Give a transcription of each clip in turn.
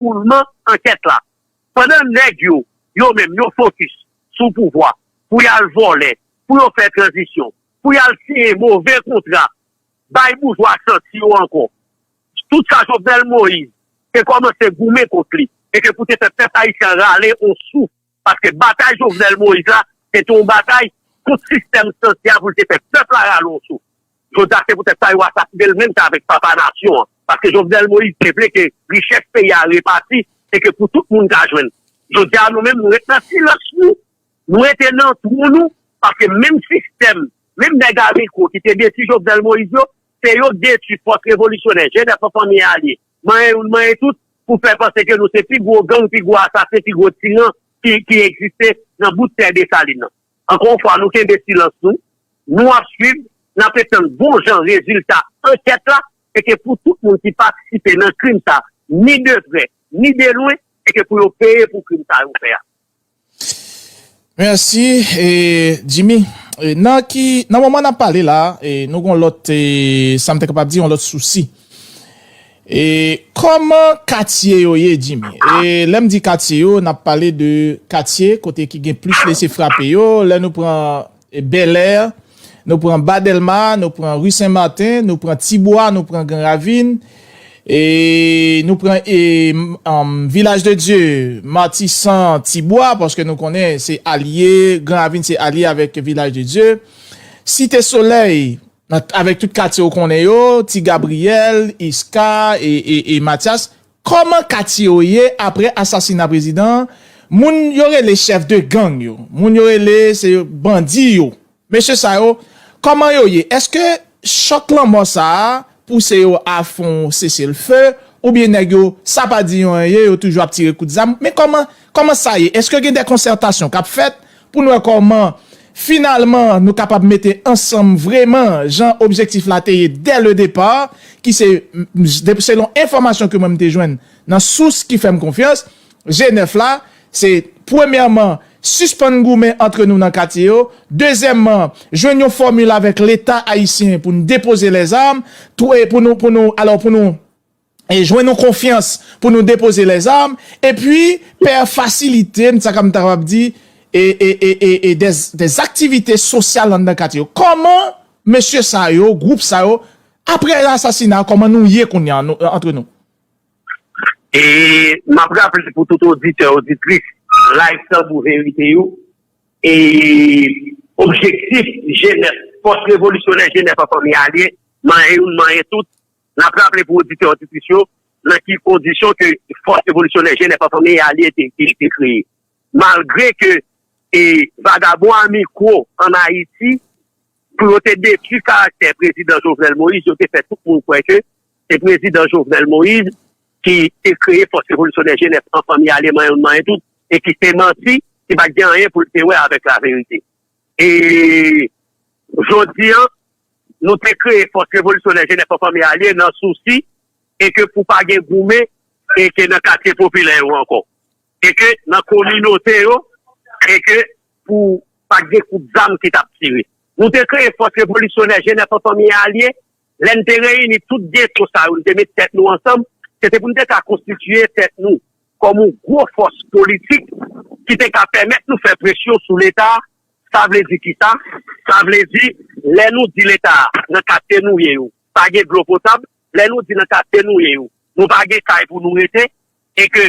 Koulman ankèt la. Pandan nèg yo, yo menm, yo fokis sou pouvwa pou y al vòlè, pou yo fè tranzisyon, pou y al siyen move kontra, bay boujwa santi yo ankò tout sa Jovenel Moïse te kòmanse goumen kont li e ke pou te fè pèp ayisyen an rale on souf. Paske batay Jovenel Moïse la se te yon batay kont sistèm santi a pou l te fè pèp la rale yon souf. Jodi a se poutèt sa yo asasine l menm jan avèk papa nasyon an. Paske Jovenel Moïse te vle ke richès peyi a repati e ke pou tout moun ka jwenn. Jodi a nou menm nou ret nan silans nou, nou rete nan twou nou paske menm sistèm, menm nèg a mikwo ki te detwi Jovenel Moïse yo, se yo k detwi fòs revolisyonè, jenès anfan mye alye. Manyen youn manyen tout pou fè panse ke nou se pi gwo gang, pi gwo asasen, pi gwo tiran ki egziste nan bout tè Desalin nan. Ankò yon fwa, nou kenbe silans nou. Nou ap swiv, n ape tann bon jan rezilta ankèt la e ke pou tout moun ki patisipe nan krim sa a, ni de prè, ni de lwen, e ke pou yo peye pou krim sa yo fè a. Merci Jimmy nan ki nan moman nap pale la nou gon lòt sam te kapab di yon lòt sousi e kòman katye yo ye Jimmy e lèm di katye yo nap pale de katye kote ki gen plis lese frape yo lè nou pran Bèlèr, nou pran Ba Dèlma, nou pran Ri Sen Marten, nou pran Ti Bwa, nou pran Gran Ravin, e nou pran e Vilaj de Dye, Matisan, Ti Bwa, paske nou konnen se alye, Gran Ravin se alye avèk Vilaj de Dye, Site Solèy, avèk tout katye ou konnen yo, Ti Gabriyèl, Iska, e Matyas, Kòman katye yo ye aprè asasina prezidan an, moun yo rele chèf de gang yo, moun yo rele se yo bandi yo, mesye sa yo kòman yo ye, èske chòk lanmò sa a pouse yo a fon sese l fe oubyen nèg yo sa pa di yo anyen yo toujou ap tire kout zam men kòman kòman sa ye, èske gen dè konsètasyon k ap fèt pou n wè kòman finalman nou kapab mete ansanm vreman jan objektif la te ye dè le depa, ki se, selon enfòmasyon ke mwen m te jwenn nan sous ki fè m konfyans, je nèf la, se premyèman sispann goumen antre nou nan katye yo, dezyèmman jwenn yon fòmil avèk leta ayisyen pou n depoze lèzam, pou nou, pou nou, alò pou nou. jwenn yon konfyans pou nou depoze lèzam epi pè fasilite m sa m ta kapab di e dèz aktivite sosyal anndan katye yo kòman mesye sa yo gwoup sa yo aprè asasina kòman nou ye kounya antre nou. E m ap raple pou tout oditè oditris live tanbou verite yo e objektif jenès fòs revolisyonè jenès an fanmi alye manyen youn manyen tout N ap raple pou oditè oditris yo nan ki kondisyon ke Fòs Revolisyonè Jenès an Fanmi a li te kreye. Malgre ke vagabon a mikwo an Ayiti, pou yo te detwi karaktè Prezidan Jovenel Moïse, yo te fè tout moun kwè ke se Prezidan Jovenel Moïse ki te kreye Fòs Revolisyonè Jenès an Fanmi a le manyen manyen tout e ki se manti, ki pa t gen anyen pou l te wè avèk laverite. E jodi an, nou te kreye Fòs Revolisyonè Jenès an Fanmi Alye nan sousi e ke pou pa gen goumen e ke nan katye popilè yo ankò. E ke nan kominote yo e ke pou pa gen kout zam ki t ap tire. Nou te kreye Fòs Revolisyonè Jenès an Fanmi Alye Lè n te reyini tout geto sa yo, n te met tèt nou ansanm, se te pou n te ka konstitiye tèt nou kòm yon gwo fòs politik ki te ka pèmèt nou fè presyon sou Leta. Sa vle di kisa? Sa vle di lè nou di Leta a nan katye nou ye yo pa gen dlo potab, lè nou di nan katye nou ye yo nou pa gen kay pou nou rete e ke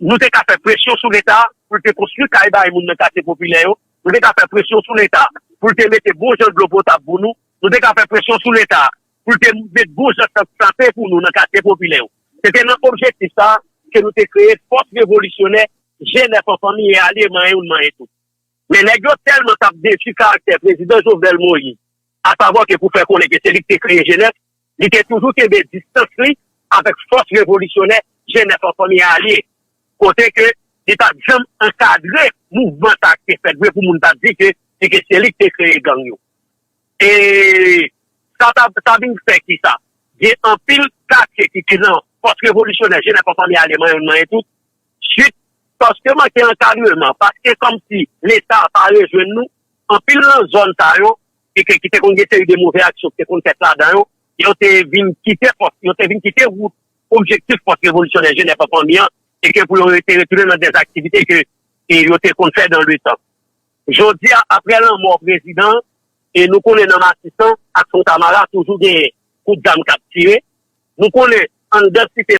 nou te ka fè presyon sou Leta pou l te konstwi kay bay moun nan katye popilè yo, nou te ka fè presyon sou Leta pou l te mete bon jan dlo potab pou nou, Nou te ka fè presyon sou Leta pou l te met bon jan sant sante pou nou nan katye popilè yo. Se te nan objektif sa a ke nou te kreye Fòs Revolisyonè Jenèf an Fanmi e Alye Manyen Youn Manyen Tout. Men nèg yo tèlman t ap detwi karaktè Prezidan Jovenel Moïse, asavwa ke pou fè konnen ke se li ki te kreye Jenèf, Li te toujou kenbe distans li avèk fòs revolisyonè Jenès an Fanmi a ye, kote ke li pat janm ankadre mouvman sa k te fèt vre pou moun ta di ke se ke se li k te kreye gang yo. E sa ta sa vin fè ki sa? Gen anpil katye ki te nan fòs revolisyonè Jenès an Fanmi a ye manyen moun manyen tout suit paske manke ankadreman, paske kòmsi Leta pa rejwenn nou, anpil nan zòn sa yo e ke ki te konn gen seri de move aksyon ki te konn fèt ladan yo, yo te vin kite pòs, yo te vin kite wout objektif Fòs Revolisyonè Jenèf an Fanmi an, e ke pou yo yo te retounen nan dè aktivite ke yo te konn fè dan le tan. Jodi a, apre lanmò prezidan an, e nou konnen nan Matisan ak Fontamara toujou genyen kout zam kap tire, nou konnen anndan site.